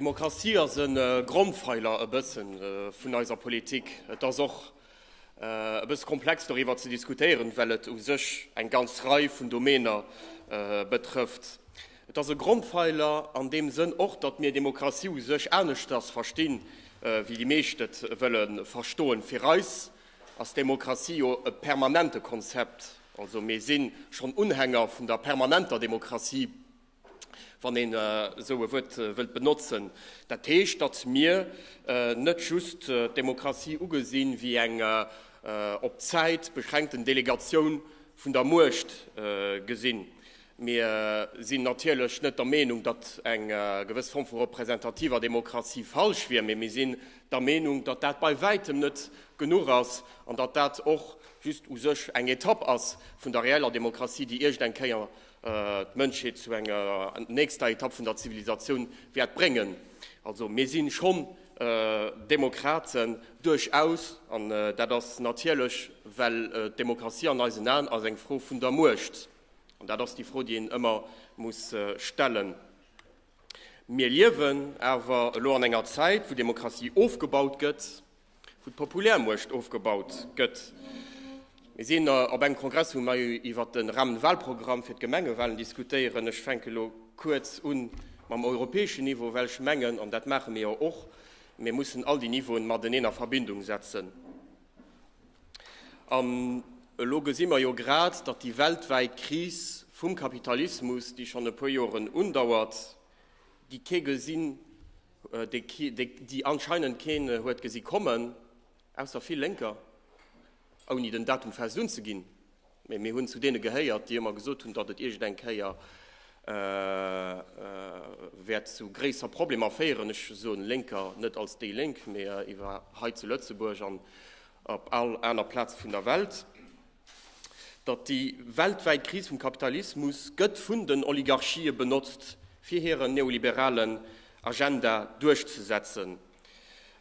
Demokratie ass e Grondfeiler e bësse vun eiser Politik. Et ass och e bësse komplex doriwwer ze diskutéieren, well et u sech eng ganz Rei vun Domäner betrëfft. Et ass e Grondfeiler an deem Sënn och, datt mir Demokratie u sech aneschters verstinn, wéi déi meescht et wëlle verstoen. Fir eis ass Demokratie jo e permanente Konzept, also mir si schonn Unhänger vun der permanenter Demokratie. wann een esou e Wuert wëllt benotzen, dat heescht, datt mir net just d'Demokratie ugesinn wéi eng op d'Zäit beschränkten Delegatioun vun der Muecht gesinn. Mir sinn natierlech net der Meenung, datt eng gewëss Form vu representativer Demokratie falsch wier, mee mir sinn der Meenung, datt dat bei wäitem net genuch ass an datt dat och just u sech eng Etapp ass vun der reeller Demokratie, déi iergendeng Kéier d'Mënschheet zu enger nächster Etapp vun der Zivilisatioun wäert bréngen. Also mir si schonn Demokraten, duerchaus, an dat ass natierlech, well d'Demokratie an eisen Aen ass eng Fro vun der Muecht. An dat ass déi Fro, déi een ëmmer muss stellen. Mir liewen awer elo an enger Zäit, wou Demokratie ofgebaut gëtt, wou d'Populärmuecht ofgebaut gëtt. Mir sinn op engem Kongress, wou mer iwwert de Rahmenwahlprogramm fir d'Gemengewahlen diskutéieren. Ech fänke elo kuerz u mam europäeschen Niveau, well ech mengen, an dat maache mir jo och, mir mussen all déi Niveauen mateneen a Verbindung setzen. An elo gesi mer jo grad, datt déi weltwäit Kris vum Kapitalismus, déi schonn e puer Joren undauert, Déi kee gesinn, déi anscheinend keen huet gesi kommen, ausser vill Lénker, ouni den Datum fest unzeginn. Mee mir hunn zu deene gehéiert, déi ëmmer gesot hunn, datt et iergendeng Kéier wäert zu gréisser Problemer féieren. Ech soen Lénker net als déi Lénk, mee iwwer hei zu Lëtzebuerg an op all aner Plaz vun der Welt. datt déi weltwäit Kris vum Kapitalismus gëtt vun den Oligarchië benotzt, fir hiren neoliberalen Agenda duerchzesetzen.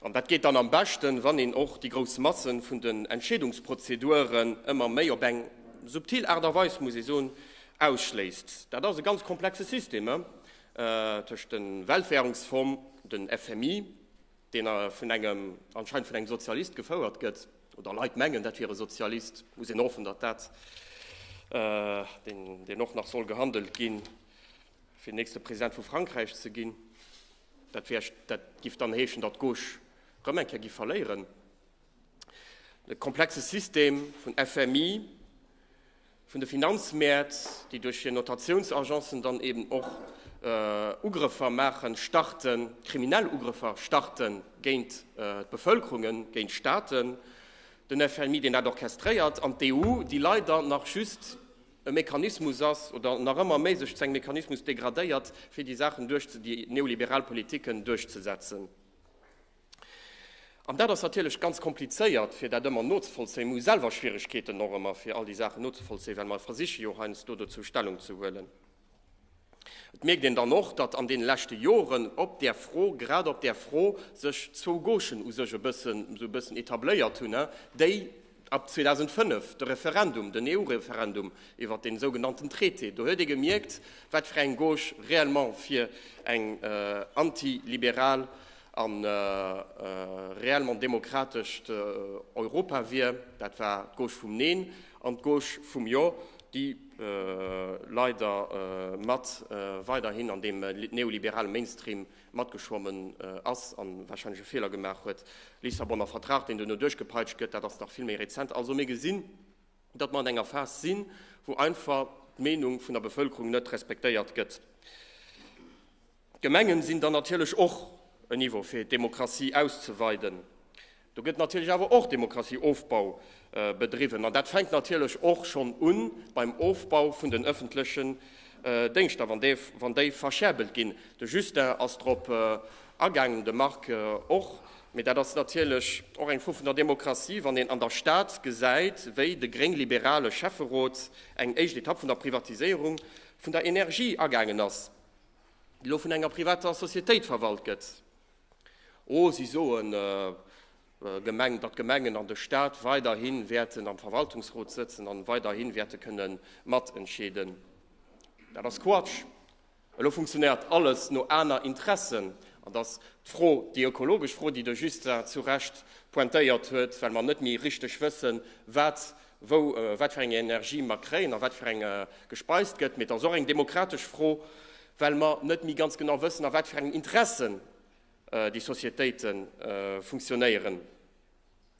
An dat geet dann am beschten, wann een och déi grouss Masse vun den Entscheedungsprozeduren ëmmer méi, op eng subtil Aart a Weis, muss ee soen, ausschléisst. Dat ass e ganz komplexe System, tëscht de Weltwährungsfong, den FMI, deen vun engem, anscheinend vun engem Sozialist gefouert gëtt, oder Leit mengen, dat wier e Sozialist, muss een hoffen, datt dat, deen och nach soll gehandelt ginn, fir den nächste President vu Frankräich ze ginn, dat wär, dat géif dann heeschen, datt d'Gauche erëm eng Kéier géif verléieren. E komplexe System vun FMI, vun de Finanzmäert, déi duerch hir Notatiounsagencen dann eben och Ugrëffer maachen, starten, kriminell Ugrëffer starten géint d'Bevëlkerungen, géint Staaten, den FMI, deen dat orchestréiert, an d'EU, déi leider nach just e Mechanismus ass oder nach ëmmer méi sech zu engem Mechanismus degradéiert, fir déi Saachen duerch, déi neoliberal Politiken duerchzesetzen. An dat ass natierlech ganz komplizéiert, fir dat ëmmer nozevollzéien. Mir hu selwer Schwierigkeeten och ëmmer, fir all déi Saachen nozevollzéien, well mer versiche jo heiansdo dozou Stellung ze huelen. Et mierkt een dann och, datt an deene leschte Joren op där Fro, grad op där Fro, sech zwou Gauchen u sech e bëssen esou e bëssen etabléiert hunn, déi, Ab 2005, de Referendum, den EU-Referendum iwwert dee sougenannten Traité, do huet ee gemierkt, wat fir eng Gauche réellement fir eng antiliberal a réellement demokratescht Europa wier. Dat war d'Gauche vum Neen an d'Gauche vum Jo, déi leider mat weiderhin an deem neoliberale Mainstream matgeschwommen ass a warscheinlech e Feeler gemaach huet, Lissabonner Vertrag, deen duerno duerchgepeitscht gëtt, dat ass nach vill méi rezent. Also mir gesinn, datt mer an enger Phas sinn, wou einfach d'Meenung vun der Bevëlkerung net respektéiert gëtt. D'Gemengen sinn dann natierlech och en Niveau fir d'Demokratie auszeweiden. Do gëtt natierlech awer och Demokratieofbau bedriwwen, an dat fänkt natierlech och schonn u beim Ofbau vun den ëffentlechen Déngschter, wann déi verscherbelt ginn. De Justin ass drop agaangen, de Marc och. Mee dat ass natierlech och eng Fro vun der Demokratie, wann een an der Stad gesäit, wéi de gréng-liberale Schäfferot eng éischt Etapp vun der Privatiséierung vun der Energie agaangen ass, déi elo vun enger privater Societéit verwalt gëtt. Oh, si soen, Gemeng, datt d'Gemengen an de Stat weiderhi wäerten am Verwaltungsrot sëtzen a weiderhi wäerte kënne matentscheeden. Dat ass Quatsch. Elo funktionéiert alles no aner Interessen. An dass d'Fro, déi ökologesch Fro, déi de Justin zu Recht pointéiert huet, well mer net méi richteg wëssen, wat wou, wat fir eng Energie mer kréien a wat fir eng gespeist gëtt. Mee et ass och eng demokratesch Fro, well mer net méi ganz genau wëssen, a wat fir engen Interessen déi Societéite funktionéieren,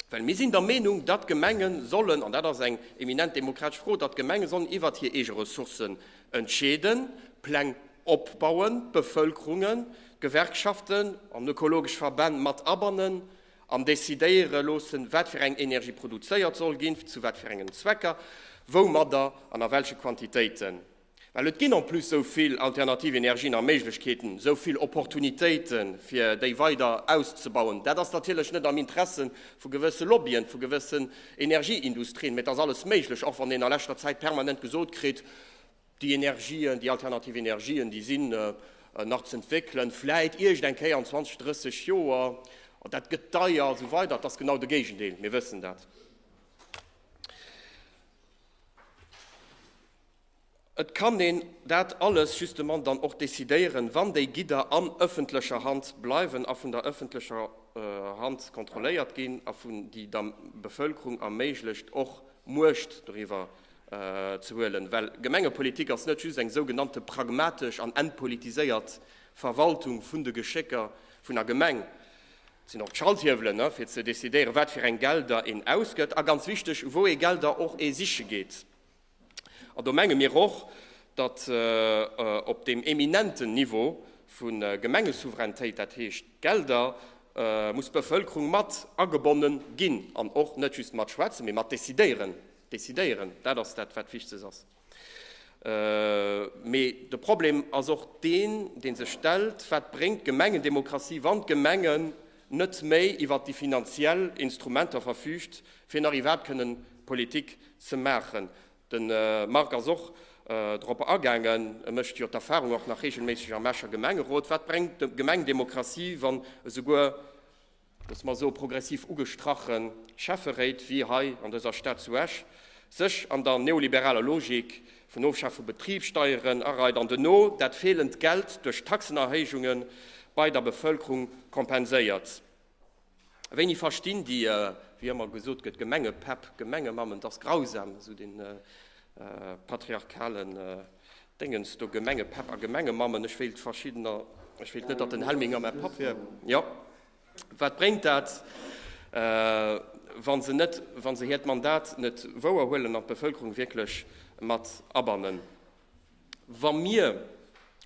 well mir sinn der Meenung, datt d'Gemenge sollen, an dat ass eng eminent demokratesch Fro, datt d'Gemenge sollen iwwert hir eege Ressourcen entscheeden, Pläng opbauen, d'Bevëlkerungen, d'Gewerkschaften an ökologesch Verbänn mat abannen an decidéiere loosse wat fir eng Energie produzéiert soll ginn, zu wat fir engen Zwecker, woumadder an a welche Quantitéiten. Well et ginn en plus esou vill alternativ Energien a Méiglechkeeten, esou vill Opportunitéiten, fir déi weider auszubauen. Dat ass natierlech net am Interesse vu gewësse Lobbyen, vu gewëssen Energieindustrien, mä et ass alles méiglech, och wann een a leschter Zäit permanent gesot kritt, déi Energien, déi alternativ Energien, déi sinn nach z'entwéckelen, vläit iergendeng Kéier an 20, 30 Joer, an dat gëtt deier a sou weider. Et ass genau de Géigendeel, mir wëssen dat. Et kann een dat alles justement dann och decidéieren, wann déi Gidder an ëffentlecher Hand bleiwen a vun der ëffentlecher Hand kontrolléiert ginn a vun déi der Bevëlkerung erméiglecht, och Muecht doriwwer ze huelen. Well Gemengepolitik ass net just eng sougenannte pragmatesch an entpolitiséiert Verwaltung vun de Geschécker vun der Gemeng. Et sinn och d'Schalthiewelen, fir ze decidéieren, wat fir eng Gelder een ausgëtt a, ganz wichteg, wou ee Gelder och ee siche geet. An do menge mir och, datt op deem eminenten Niveau vu Gemengesouveränitéit, dat heescht d'Gelder, muss d'Bevëlkerung mat agebonne ginn an och net just mat schwätzen, mee mat decidéieren. Decidéieren, dat ass dat, wat Wichtiges ass. Mee de Problem ass och deen, dee sech stellt, Wat bréngt d'Gemengendemokratie, wann d'Gemengen net méi iwwert déi finanziell Instrumenter verfüügt, fir nach iwwerhaapt kënnen Politik ze maachen. De Marc ass och drop agaangen, e mécht jo d'Erfahrung och nach reegelméisseg am Escher Gemengerot, Wat bréngt d'Gemengdemokratie, wann esouguer, loosse mer soe progressiv ugestrache Schäfferéit wéi hei an dëser Stad zu Esch sech an der neoliberaler Logik Vun Ofschaf vu Betribssteieren a reit an duerno dat feelend Geld duerch Taxenerhéijunge bei der Bevëlkerung kompenséiert. Wéini verstinn déi, wéi ëmmer gesot gëtt, Gemengepäpp, Gemengemammen, dass grausam, esou dee patriarchalen Déngens do, Gemengepäpp a Gemengemammen, ech wéilt verschiddener, ech wéilt net, datt den Helminger mäi Papp wier, jo. Wat bréngt dat, wa se net, wa se hiert Mandat net wouer huelen an d'Bevëlkerung wierklech mat abannen? Wa mir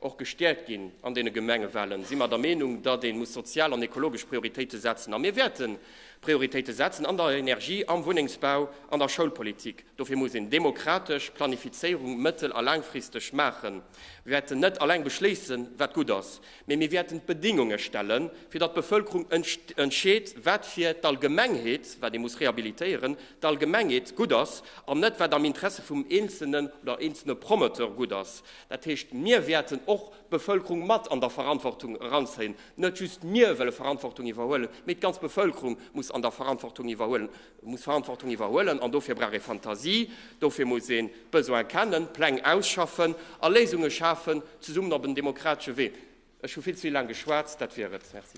och gestäerkt ginn an deene Gemengewahlen, si mer der Meenung, datt ee muss sozial an ekologesch Prioritéite setzen. A mir wäerten Prioritéite setzen an der Energie, am Wunnengsbau, an der Schoulpolitik. Dofir muss een demokratesch Planifizéierung mëttel a laangfristeg maachen. Mir wäerten net eleng beschléissen, wat gutt ass. Mee mir wäerten d'Bedingunge stellen, fir datt d'Bevëlkerung entscheet, wat fir d'Allgemengheet, wat ee muss rehabilitéieren, d'Allgemengheet gutt ass, an net wat am Interesse vum Eenzelnen oder eenzelne Promoteur gutt ass. Dat heescht, mir wäerten och d'Bevëlkerung mat an der Verantwortung eranzéien. Net just mir wëlle Verantwortung iwwerhuelen, mee d'ganz Bevëlkerung muss an der Verantwortung iwwerhuelen. E muss Verantwortung iwwerhuelen an dofir brauch ee Fantasie, dofir muss een d'Besoine kennen, Pläng ausschaffen a Léisunge schafen, zesummen op en demokratesche Wee. Ech hu vill ze vill laang geschwat, dat wier et. Merci.